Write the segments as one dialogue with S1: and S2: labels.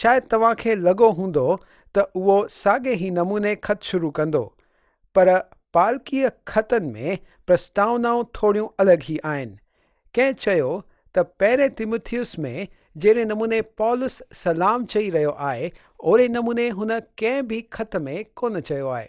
S1: شايد توهان کي لڳو هوندو ته اهو ساڳي ئي نموني خط شروع ڪندو، پر پالڪيء خطن ۾ پرسٽاونائون ٿوريون الڳ ئي آهن. ڪنهن چيو ته پهرين تيموٿيوس ۾ جهڙي نموني پولس سلام چئي رهيو آهي، اهڙي نموني هن ڪنهن به خط ۾ ڪونه چيو آهي.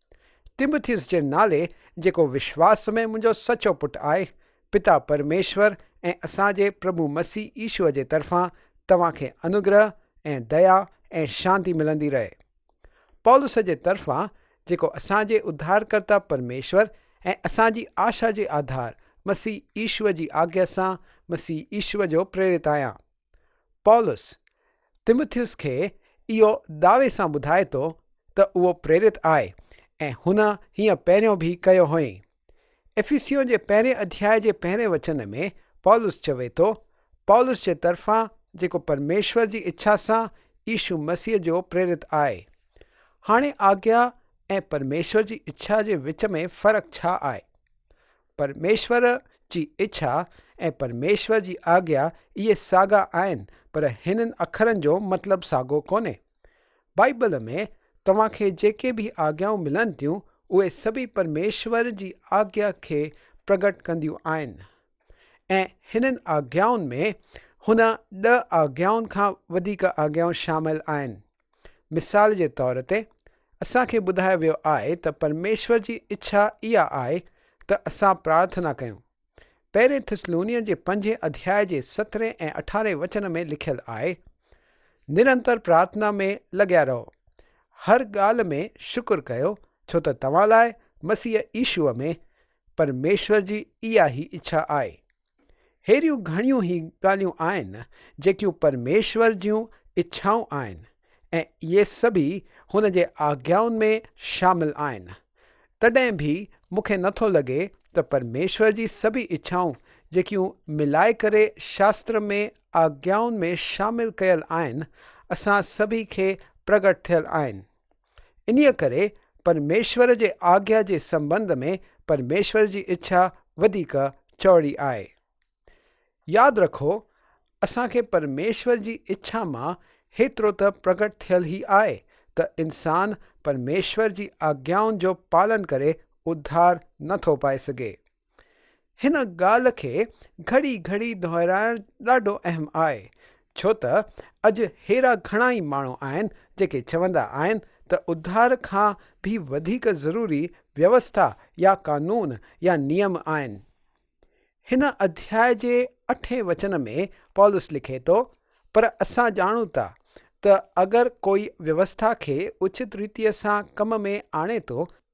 S1: تموٿيوس جي نالي جيڪو وشواس ۾ منهنجو سچو پٽ آهي، پتا پرميشور ۽ اسان جي پرڀو مسيح عيسو جي طرفان توهان کي انوگرهه ۽ ديا ۽ شانتي ملندي رهي. پولس جي طرفان جيڪو اسان جي اڌارڪرتا پرميشور ۽ اسان جي آشا جي آڌار مسيح عيسو جي آگيا سان مسيح عيسو جو پريرت آهيان. پولس تموٿيوس کي اهو دعوي سان ٻڌائي ٿو ته اهو پريرت آهي ۽ هن هيئن پهريون به ڪيو هئائين. افيسيون جي پهرين اڌياء جي پهرين وچن ۾ پولس چوي ٿو، پولس جي طرفان جيڪو پرميشور جي اڇا سان عيسو مسيح جو پريرت آهي. هاڻي آگيا ۽ پرميشور جي اڇا جي وچ ۾ فرق ڇا آهي؟ پرميشور جي اڇا ۽ پرميشور جي آگيا اهي ساڳا آهن پر هنن اکرن جو مطلب ساڳو ڪونهي. بائيبل ۾ توهان کي جيڪي به آگيائون ملن ٿيون اهي سڀئي پرميشور جي آگيا کي پرگهٽ ڪنديون آهن ۽ هنن آگيائن ۾ هن ڏهه آگيائن کان وڌيڪ آگيائون شامل آهن. مثال جي طور تي اسان کي ٻڌايو ويو آهي ته پرميشور جي اڇا اها آهي ته اسان پرارٿنا ڪيون. پهرين ٿسلونين جي پنجين اڌياء جي سترهين ۽ اٺارهين وچن ۾ لکيل آهي، نرنتر پرارٿنا ۾ لڳيا رهو، هر ڳالهه ۾ شڪر ڪيو ڇو ته توهان لاء مسيح عيشوء ۾ پرميشور جي اها هي اڇا آهي. ههڙيون گهڻيون ئي ڳالهيون آهن جيڪيون پرميشور جون اڇائون آهن ۽ اهي سڀئي هن جي آگيائن ۾ شامل آهن. تڏهن به مون کي نٿو لڳي ته پرميشور جي سڀئي اڇائون جيڪيون ملائي ڪري شاستر ۾ آگيائن ۾ شامل ڪيل آهن، اسان سڀئي کي پرگٽ ٿيل آهن. انهيء ڪري پرميشور جي آگيا جي سنبنڌ ۾ پرميشور جي اڇا وڌيڪ چوڙي آهي. ياد رکو اسان کي پرميشور جي اڇا مان هيترو ته پرگٽ ٿيل ئي آهي ته انسان پرميشور جي آگيائن جو پالن ڪري اڌار نه ٿو پائي سگهي. هن ڳالهه کي گهڙي گهڙي دهرائڻ ڏاڍو اهم آهي ڇو ته اڄ ههڙا گهڻا ئي ماڻهو آهن جيڪي چوندا آهن ته اڌار کان به وڌيڪ ضروري ويوسٿا يا قانون يا نيم آهن. هن اڌياء جي اٺين وچن ۾ پولس لکي ٿو، پر اسان ڄاڻون ٿا ته اگر ڪوئي ويوسٿا کي اوچت ريتيء سان ڪم ۾ آڻي ٿو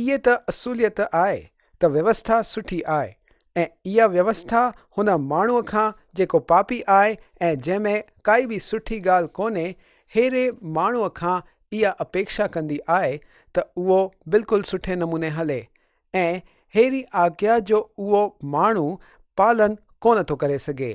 S1: اهي ته اصوليت آء ته ويوسٿا سٺي آء ۽ اها ويوسٿا هن ماڻهوء کان جيڪو پاپي آء ۽ جنهن ۾ ڪائي به سٺي ڳالهه ڪونهي ههڙي ماڻهوء کان اها اپيڪشا ڪندي آء ته اهو بلڪل سٺي نموني هلي ۽ ههڙي آگيا جو اهو ماڻهو پالن ڪونه ٿو ڪري سگهي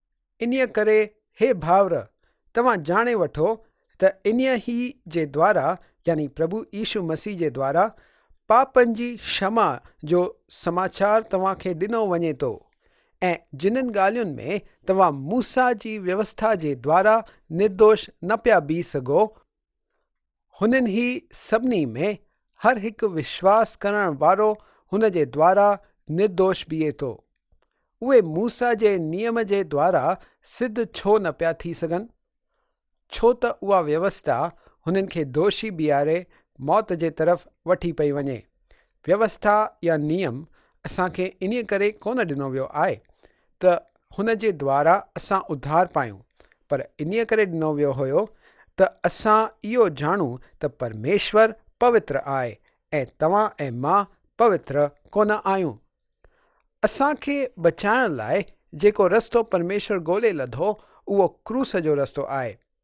S1: انهيء ڪري هي ڀائر، توهان ڄاڻي وٺو ته انهيء ئي جي دوارا، يعني پرڀو عيسو مسيح جي دوارا، پاپن جي شمع جو سماچار توهان کي ڏنو وڃي ٿو، ۽ جنھن ڳالهين ۾ توهان موسيٰ جي ويوسٿا جي دوارا نردوش نه پيا بيھي سگهو، هنن هي سڀني ۾ هر هڪ وشواس ڪرڻ وارو هن جي دوارا نردوش بيهي ٿو. اهي موسيٰ جي نيم جي دوارا سڌ ڇو نه پيا ٿي سگهن؟ ڇو ته اها ويوسٿا هنن کي دوشي بيهاري موت جي طرف وٺي پئي وڃي، ويوسٿا يا نيم اسان کي انهيء ڪري ڪونه ڏنو ويو آهي ته هن جي دوارا اسان اڌار پايون، پر انهيء ڪري ڏنو ويو هيو ته اسان اهو ڄاڻون ته پرميشور پوتر آهي ۽ توهان ۽ مان پوتر ڪونه آهيون. اسان کي بچائڻ لاء جيڪو رستو پرميشور ڳولي لڌو اهو ڪروس جو رستو آهي.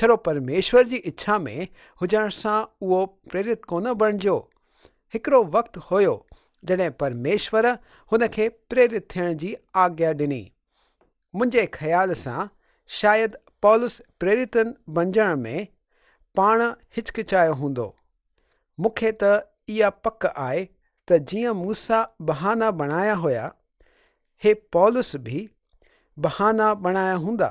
S1: ڇڙو پرميشور جي اڇا ۾ هجڻ سان اهو پريرت ڪونه بڻجيو. هڪڙو وقت هيو جڏهن پرميشور هن کي پريرت ٿيڻ جي آگيا ڏني. منهنجي خيال سان شايد پولس پريرت بنجڻ ۾ پاڻ هچڪچايو هوندو. مون کي ته اها پڪ آهي ته جيئن موسيٰ بهانا بڻايا هيا، هي پولس به بهانا بڻايا هوندا.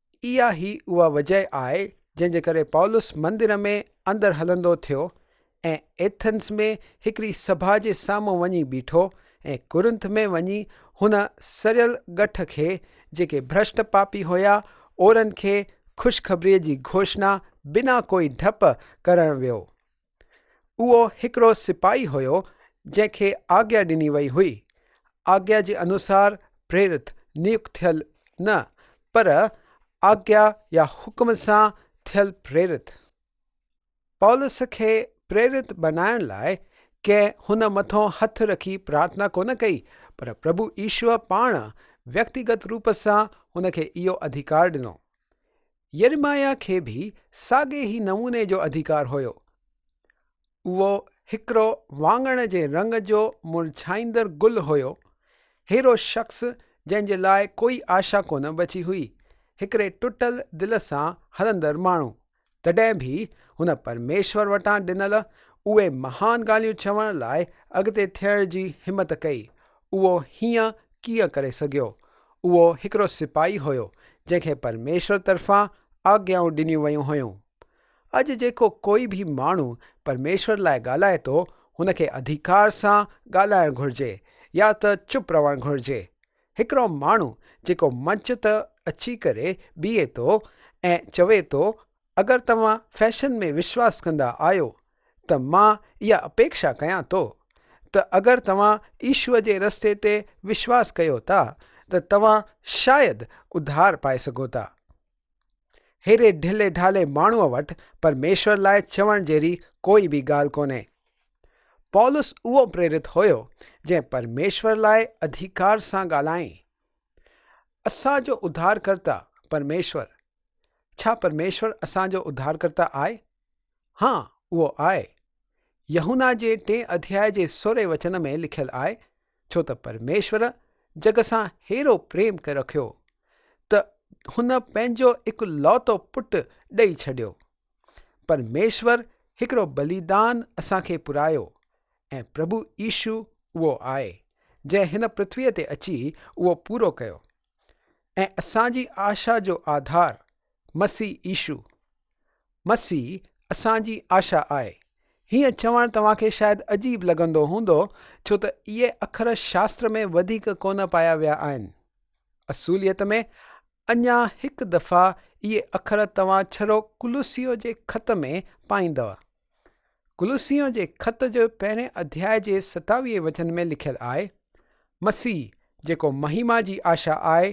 S1: اها ئي اها وجهه آهي جنهن جي ڪري پولس مندر ۾ اندر هلندو ٿيو ۽ ايٿنز ۾ هڪڙي سڀا جي سامهون وڃي بيٺو ۽ ڪورنٿ ۾ وڃي هن سڙيل ڳٺ کي جيڪي ڀرشٽ پاپي هيا اهڙن کي خوشخبريء جي گهوشنا بنا ڪوئي ڊپ ڪرڻ ويو. اهو هڪڙو سپاهي هيو جنهن کي آگيا ڏني وئي هئي. آگيا جي انوسار پريرت، نيڪ ٿيل نه پر آگيا يا حڪم سان ٿيل پريرت. پولس کي پريرت بنائڻ لاء ڪنهن هن مٿون هٿ رکي پرارٿنا ڪونه ڪئي پر پرڀو ايشوء پاڻ ويڪتيگت روپ سان هن کي اهو اڌيڪار ڏنو. يرمياه کي به ساڳئي ئي نموني جو اڌيڪار هيو. اهو هڪڙو واڱڻ جي رنگ جو مرجهائيندڙ گل هيو، ههڙو شخص جنهن جي لاء ڪوئي آشا ڪونه بچي هئي، هڪڙي ٽٽل دل سان هلندڙ ماڻهو. تڏهن به هن پرميشور وٽان ڏنل اهي مهان ڳالهيون چوڻ لاء اڳتي ٿيڻ جي همت ڪئي. اهو هيئن ڪيئن ڪري سگهيو؟ اهو هڪڙو سپاهي هيو، جنهن کي پرميشور طرفان آگيائون ڏنيون ويون هيون. اڄ جيڪو ڪوئي به ماڻهو پرميشور لاء ڳالهائي ٿو، هن کي اڌيڪار سان ڳالهائڻ گهرجي يا ته چپ رهڻ گهرجي. هڪڙو ماڻهو جيڪو منچ تي اچي ڪري بيهي ٿو ۽ چوي ٿو، اگر توهان فيشن ۾ وشواس ڪندا آهيو ته مان اها اپيڪشا ڪيان ٿو ته اگر توهان عيشوء جي رستي تي وشواس ڪيو ٿا ته توهان شايد اڌار پائي سگهو ٿا. ههڙي ڍلي ڍالي ماڻهوء وٽ پرميشور لاء چوڻ جهڙي ڪوئي به ڳالهه ڪونهي. پولس اهو پريرت هيو جنهن پرميشور لاء اڌيڪار سان ڳالهائين. اسان جو اڌارڪرتا پرميشور ڇا پرميشور اسان جو اڌارڪرتا آهي؟ ها، اهو آهي. يحنا جي ٽئين اڌياء جي سورهين وچن ۾ لکيل آهي، ڇو ته پرميشور جڳ سان ههڙو پريم رکيو، ته هن پنهنجو اڪلوتو پٽ ڏئي ڇڏيو. پرميشور هڪڙو بليدان اسان کي پرائيو، ۽ پرڀو عيسو اهو آهي، جنهن هن پرٿويء تي اچي اهو پورو ڪيو. ۽ اسان جي آشا جو آڌار مسيح عيشو مسيح اسان جي آشا آهي. هيئن چوڻ توهان کي شايد عجيب لڳندو هوندو ڇو ته اهي اکر شاستر ۾ وڌيڪ ڪونه پايا ويا آهن. اصوليت ۾ اڃا هڪ دفعا اهي اکر توهان ڇرو ڪلوسيء جي خط ۾ پائيندؤ. ڪلوسيون جي خط جي پهرين اڌيائي جي ستاويهين وچن ۾ لکيل آهي، مسيح جيڪو مهيما جي آشا آهي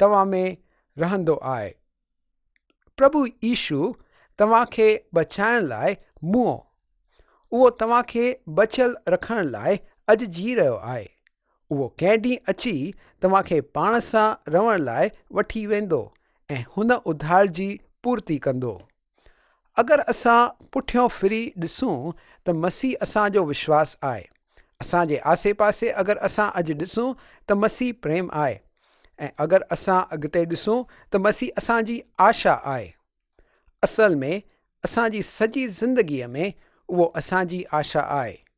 S1: توهان ۾ رهندو آهي. پرڀو عيشو توهان کي بچائڻ لاء مئو. اهو توهان کي بچيل رکڻ لاء اڄ جي رهيو آهي. اهو ڪنهن ڏينهن اچي توهان کي پاڻ سان رهڻ لاء وٺي ويندو ۽ هن اڌار جي پورتي ڪندو. اگر اسان پٺيان ڦري ڏسون ته مسيح اسان جو وشواس آهي. اسان جي آسي پاسي اگر اسان اڄ ڏسون ته مسيح پريم آهي ۽ اگر اسان اڳتي ڏسون ته مسيح اسان جي آشا آهي. اصل ۾ اسان جي سڄي زندگيء ۾ اهو اسان جي آشا آهي.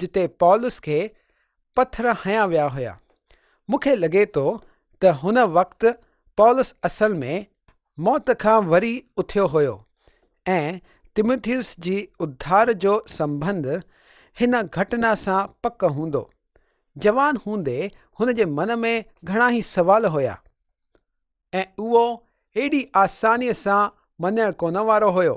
S1: جتي پولس کي پٿر هنيا ويا هيا. مون کي لڳي ٿو ته هن وقت پولس اصل ۾ موت کان وري اٿيو هيو ۽ تموٿيوس جي اڌار جو سنبنڌ هن گهٽنا سان پڪ هوندو. جوان هوندي هن جي من ۾ گهڻائي سوال هيا ۽ اهو ايڏي آسانيء سان مڃڻ ڪونه وارو هيو.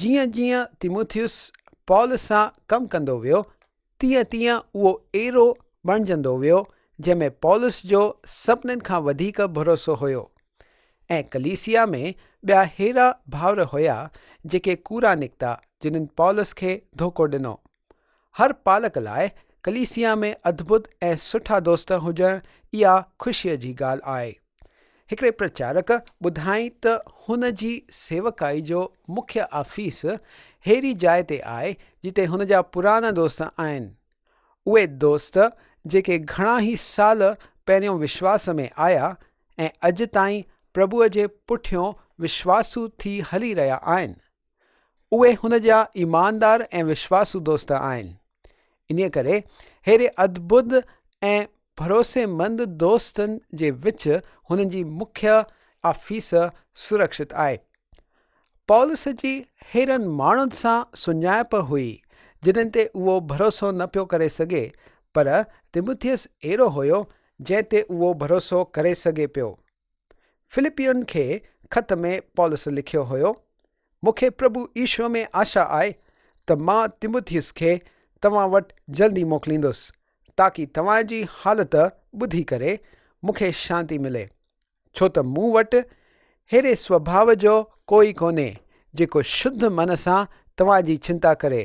S1: جيئن جيئن تيموٿيوس پال سان ڪم ڪندو ويو، تيئن تيئن اهو ايرو بڻجندو ويو، جنهن ۾ پولس جو سڀني کان وڌيڪ ڀروسو هيو. ۽ ڪليسيا ۾ ٻيا ههڙا ڀائر هيا، جيڪي ڪورا نڪتا، جنن پولس کي ڌوڪو ڏنو. هر پالڪ لاء ڪليسيا ۾ اڌبڌ ۽ سٺا دوست هجڻ اها خوشيء جي ڳالهه آهي. هڪڙي پرچارڪ ٻڌائين ته هن جي سيوڪائي جو مکيه آفيس ههڙي جاء تي آهي جتي هن جا پرانا دوست آهن. اهي دوست جيڪي گهڻا ئي سال پهريون وشواس ۾ آيا ۽ اڄ تائين پرڀوء جي پٺيون وشواسو ٿي هلي رهيا آهن، اهي هن جا ايماندار ۽ وشواسو دوست آهن. انهيء ڪري ههڙي ادبد ۽ ڀروسيمند دوستن جي وچ هن جي مکيه آفيس سرڪشت آهي. پولس جي ههڙن ماڻهن سان سڃاڻپ هئي، جنن تي اهو ڀروسو نه پيو ڪري سگهي، پر تموٿيس اهڙو هيو، جنهن تي اهو ڀروسو ڪري سگهي پيو. فلپيون کي خط ۾ پولس لکيو هيو، مون کي پرڀو عيشوء ۾ آشا آهي ته مان تيموٿيوس کي توهان وٽ جلدي موڪليندس، تاڪي توهان جي حالت ٻڌي ڪري مون کي شانتي ملي، ڇو ته مون وٽ ههڙي سوڀاء جو ڪوئي ڪونهي، جيڪو شڌ من سان توهان جي چنتا ڪري.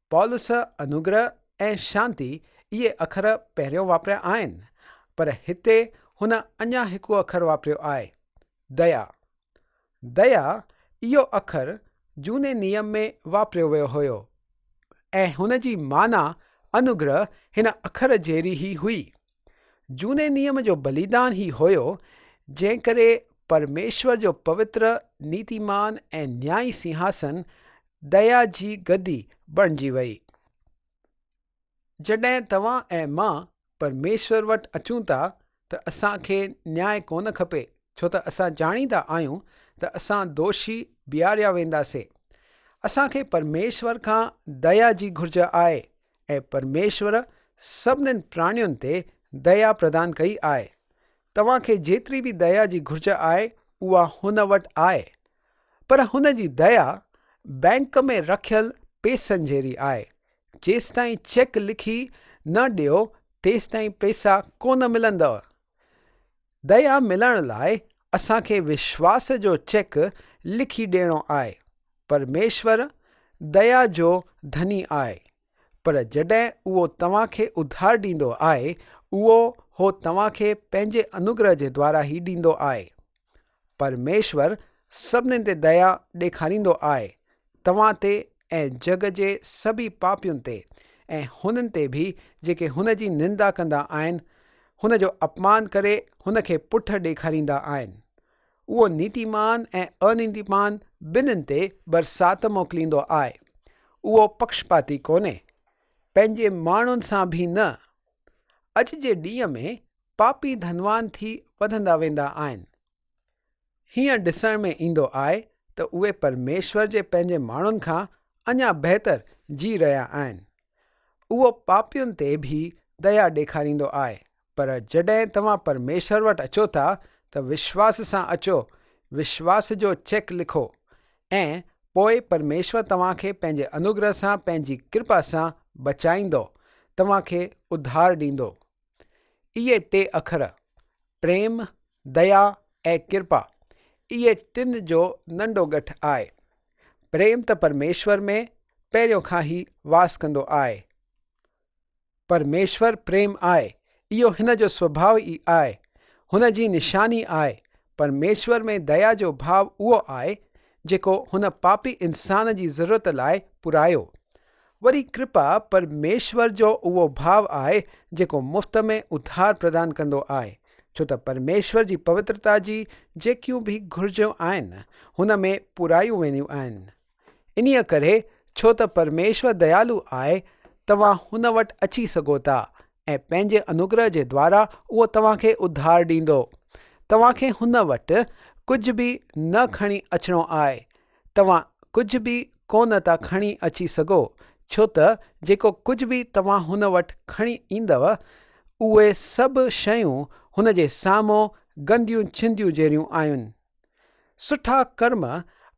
S1: پالوس انوگره ۽ شانتي اهي اکر پهريون واپريا آهن، پر هتي هن اڃا هڪ اکر واپريو آهي، ديا. ديا اهو اکر جهوني نيم ۾ واپريو ويو هيو ۽ هن جي معنيٰ انوگره هن اکر جهڙي ئي هئي. جھوني نيم جو بليدان ھي ھيو جنھن ڪري پرميشور جو پوتر نيتيمان ۽ نيائي سنھاسن ديا جي گدي بڻجي وئي. جڏھن توھان ۽ مان پرميشور وٽ اچون ٿا ته اسان کي نياء ڪونه کپي ڇو ته اسان ڄاڻيندا آھيون ته اسان دوشي بيھاريا وينداسين. اسان کي پرميشور کان ديا جي گھرج آھي ۽ پرميشور سڀنين پراڻين تي ديا پردان ڪئي آهي. توهان کي جيتري به ديا جي گهرج آهي اها هن وٽ آهي. پر هن جي ديا بئنڪ ۾ رکيل پئسن جهڙي آهي. جيستائين چيڪ لکي نه ڏيو تيستائين پئسا ڪونه ملندؤ. ديا ملڻ لاء اسان کي وشواس جو چيڪ لکي ڏيڻو آهي. پرميشور ديا جو ڌني آهي پر جڏهن اهو توهان کي اڌار ڏيندو آهي اهو هو توهان کي پنهنجي انوگره جي دوارا ئي ڏيندو آهي. پرميشور سڀني تي ديا ڏيکاريندو آء توهان تي ۽ جڳ جي سڀي پاپين تي ۽ هنن تي به جيڪي هن جي نندا ڪندا آهن، هن جو اپمان ڪري هن کي پٺ ڏيکاريندا آهن. اهو نيتيمان ۽ انيتيمان ٻنهين تي برسات موڪليندو آء. اهو پڪشپاتي ڪونهي، پنهنجي ماڻهن سان به نه. اڄ جي ڏينهن ۾ پاپي ڌنوان ٿي وڌندا ويندا آهن. هيئن ڏسڻ ۾ ايندو آهي ته اهي پرميشور جي پنهنجي ماڻهن کان اڃا بهتر جي رهيا آهن. اهو پاپين تي به ديا ڏيکاريندو آهي پر جڏهن توهان پرميشور وٽ اچو ٿا ته وشواس سان اچو، وشواس جو چيڪ لکو ۽ پوء پرميشور توهان کي پنهنجي انوگره سان پنهنجي ڪرپا سان بچائيندو، توهان کي اڌار ڏيندو. اهي ٽي اکر، پريم، ديا ۽ ڪرپا، اهي ٽن جو ننڍو ڳٺ آهي. پريم ته پرميشور ۾ پهريون کان ئي واس ڪندو آهي. پرميشور پريم آهي، اهو هن جو سڀاء ئي آهي، هن جي نشاني آهي. پرميشور ۾ ديا جو ڀاء اهو آهي، جيڪو هن پاپي انسان جي ضرورت لاء پورائيو. وري ڪرپا پرميشور جو اهو ڀاء آهي، جيڪو مفت ۾ اڌار پردان ڪندو آهي، ڇو ته پرميشور جي پوترتا جي جيڪيون به گهرجون آهن، هن ۾ پورائيون وينديون آهن. انهيء ڪري ڇو ته پرميشور ديالو آهي، توهان هن وٽ اچي سگهو ٿا ۽ پنهنجي انوگره جي دوارا اهو توهان کي اڌار ڏيندو. توهان کي هن وٽ ڪجهه به نه کڻي اچڻو آهي. توهان ڪجهه به ڪو نه ٿا کڻي اچي سگهو، ڇو ته جيڪو ڪجهه به توهان هن وٽ کڻي ايندؤ، اهي سڀ شيون هن جي سامهون گنديون چنديون جهڙيون آهن. سٺا ڪرم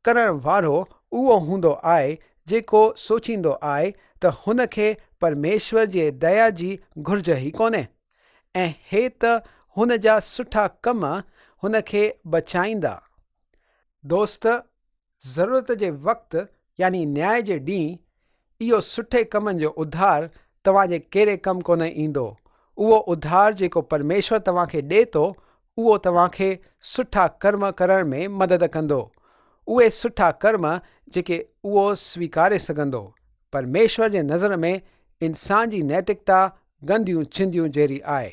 S1: ڪرڻ وارو اهو هوندو آهي جيڪو سوچيندو آهي ته هن کي پرميشور جي ديا جي گهرج ئي ڪونهي ۽ هي ته هن جا سٺا ڪم هن کي بچائيندا. دوست ضرورت جي وقت يعني نياء جي ڏينهن اهو سٺي ڪمن جو اڌار توهان جي ڪيري ڪم ڪونه ايندو. اهو اڌار جيڪو پرميشور توهان کي ڏئي ٿو اهو توهان کي سٺا ڪرم ڪرڻ ۾ مدد ڪندو. اهي سٺا ڪرم جيڪي اهو سويڪاري سگهندو. پرميشور جي نظر ۾ انسان جي نيتڪتا گنديون چنديون جهڙي آهي.